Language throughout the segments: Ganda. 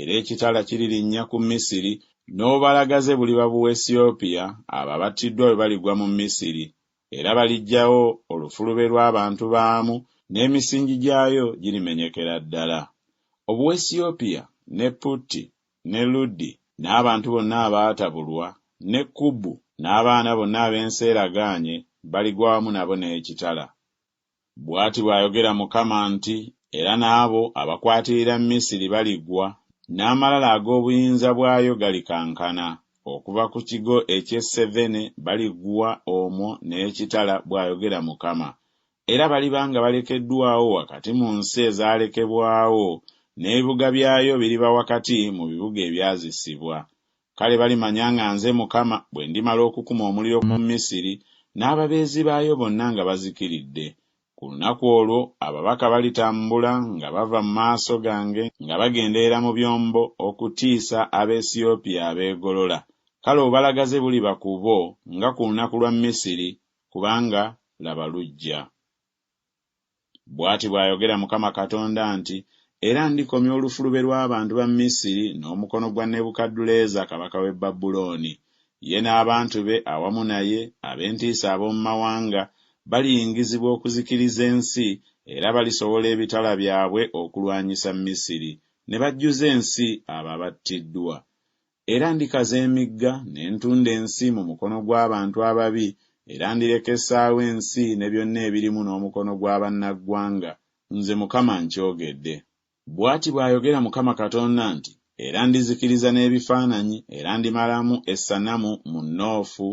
Era ekitala kiririnnya ku Misiri, n'obubalagaze buliba Buwesiyopya, abo abattiddwa bwe baligwa mu Misiri. Era baliggyawo olufulube lw'abantu baamu, n'emisingi gyayo girimenyekera ddala. Obuwesiyopya, ne Putti, ne Ludi, n'abantu bonna abaatabulwa, ne Kubu, n'abaana bonna ab'ensi eragaanye, baligwa wamu nabo n'ekitala. Bw'ati bw'ayogera Mukama nti, Era n'abo abakwatirira Misiri baligwa, n'amalala ag'obuyinza bwayo galikankana. Okuva ku kigo eky'e Sevene baligwa omwo n'ekitala, bw'ayogera Mukama, era baliba nga balekeddwawo wakati mu nsi ezaalekebwawo, n'ebibuga byayo biriba wakati mu bibuga ebyazisibwa. Kale balimanya nga nze Mukama bwe ndimala okukuma omuliro mu Misiri, n'ababeezi baayo bonna nga bazikiridde. Ku lunaku olwo ababaka balitambula nga bava mu maaso gange nga bagenderera mu byombo okutiisa Abeesiyopiya abeegolola. Kale obubalagaze buliba ku bo nga ku lunaku lwa Misiri, kubanga laba lujja. Bw'ati bw'ayogera Mukama Katonda nti, Era ndikomya olufulube lw'abantu ba Misiri n'omukono gwa Nebukadduleeza kabaka w'e Babulooni. Ye n'abantu be awamu naye, ab'entiisa ab'omu mawanga, baliyingizibwa okuzikiriza ensi, era balisowola ebitala byabwe okulwanyisa Misiri, ne bajjuza ensi abo abattiddwa. Era ndikaza emigga, ne ntunda ensi mu mukono gw'abantu ababi, era ndireka essaawa ensi ne byonna ebirimu n'omukono gwa bannaggwanga. Nze Mukama nkyogedde. Bw'ati bw'ayogera Mukama Katonda nti, Era ndizikiriza n'ebifaananyi, era ndimalamu essanamu mu Noofu,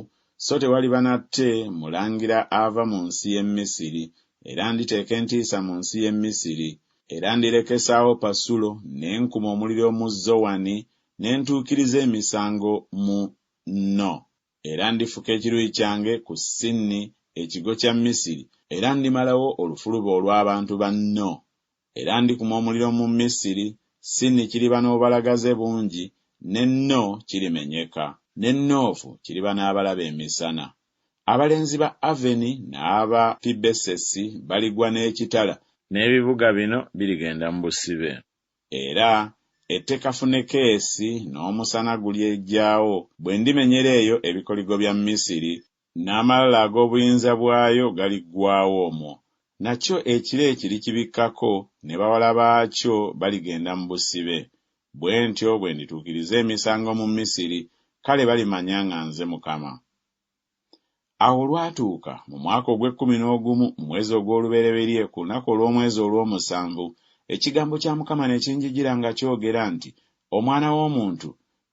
so tewaliba nate mulangira ava mu nsi y'e Misiri, era nditeeka entiisa mu nsi y'e Misiri. Era ndirekesaawo Pasulo, ne nkuma omuliro mu Zowani, ne ntuukiriza emisango mu No. Era ndifuka ekiruyi kyange ku Sinni, ekigo kya Misiri, era ndimalawo olufuluba olw'abantu ba No. Era ndikuma omuliro mu Misiri, Sinni kiriba n'obubalagaze bungi, ne No kirimenyeka. Ne Noofu kiriba n'abalabe emisana. Abalenzi ba Aveni n'aba Pibesesi baligwa n'ekitala. N'ebibuga bino birigenda mu busibe. Era ette kafune keesi n'omusana gulyegyawo, bwe ndimenyera eyo ebikoligo bya Misiri, n'amalala ag'obuyinza bwayo galiggwaawo omwo, nakyo ekire kirikibikkako, ne bawala baakyo baligenda mu busibe. Bwe ntyo bwe ndituukiriza emisango mu Misiri, kale balimanya nga nze Mukama. Awo olwatuuka, mu mwaka ogw'ekkumi n'ogumu, mu mwezi ogw'olubereberye, ku lunaku olw'omwezi olw'omusanvu, ekigambo kya Mukama ne kinjijira nga kyogera nti, Omwana w'omuntu,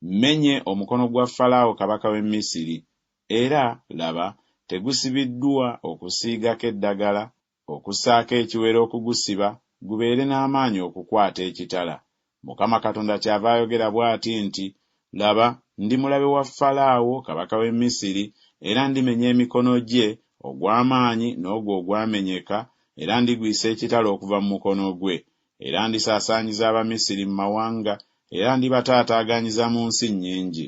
mmenye omukono gwa Falaawo kabaka w'e Misiri, era, laba, tegusibiddwa okusiigako eddagala, Okussaako ekiwero okugusiba gubeere n'amaanyi okukwata ekitala. Mukama Katonda kyava ayogera bw'ati nti, Laba, ndi mulabe wa Falaawo, kabaka w'e Misiri, era ndimenya emikono gye, ogw'amaanyi n'ogwo ogwamenyeka, era ndigwisa ekitala okuva mu mukono gwe. Era ndisaasaanyiza Abamisiri mu mawanga, era ndibataataaganyza mu nsi nnyingi.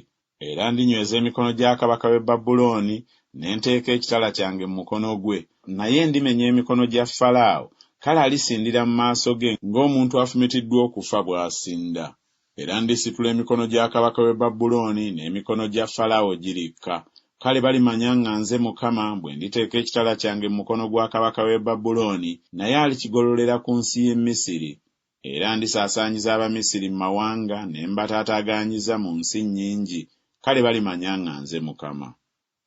Era ndinyweza emikono gya kabaka w'e Babulooni, ne nteeka ekitala kyange mu mukono gwe, naye ndimenya emikono gya Falaawo, kale alisindira mu maaso ge ng'omuntu afumitiddwa okufa bw'asinda. Era ndisitula emikono gya kabaka w'e Babulooni, n'emikono gya Falaawo girikka. Kale balimanya nga nze Mukama bwe nditeeka ekitala kyange mu mukono gwa kabaka w'e Babulooni, naye alikigololera ku nsi y'e Misiri. Era ndisaasaanyiza Abamisiri mu mawanga, ne mbataataaganyizza mu nsi nnyingi, kale balimanya nga nze Mukama.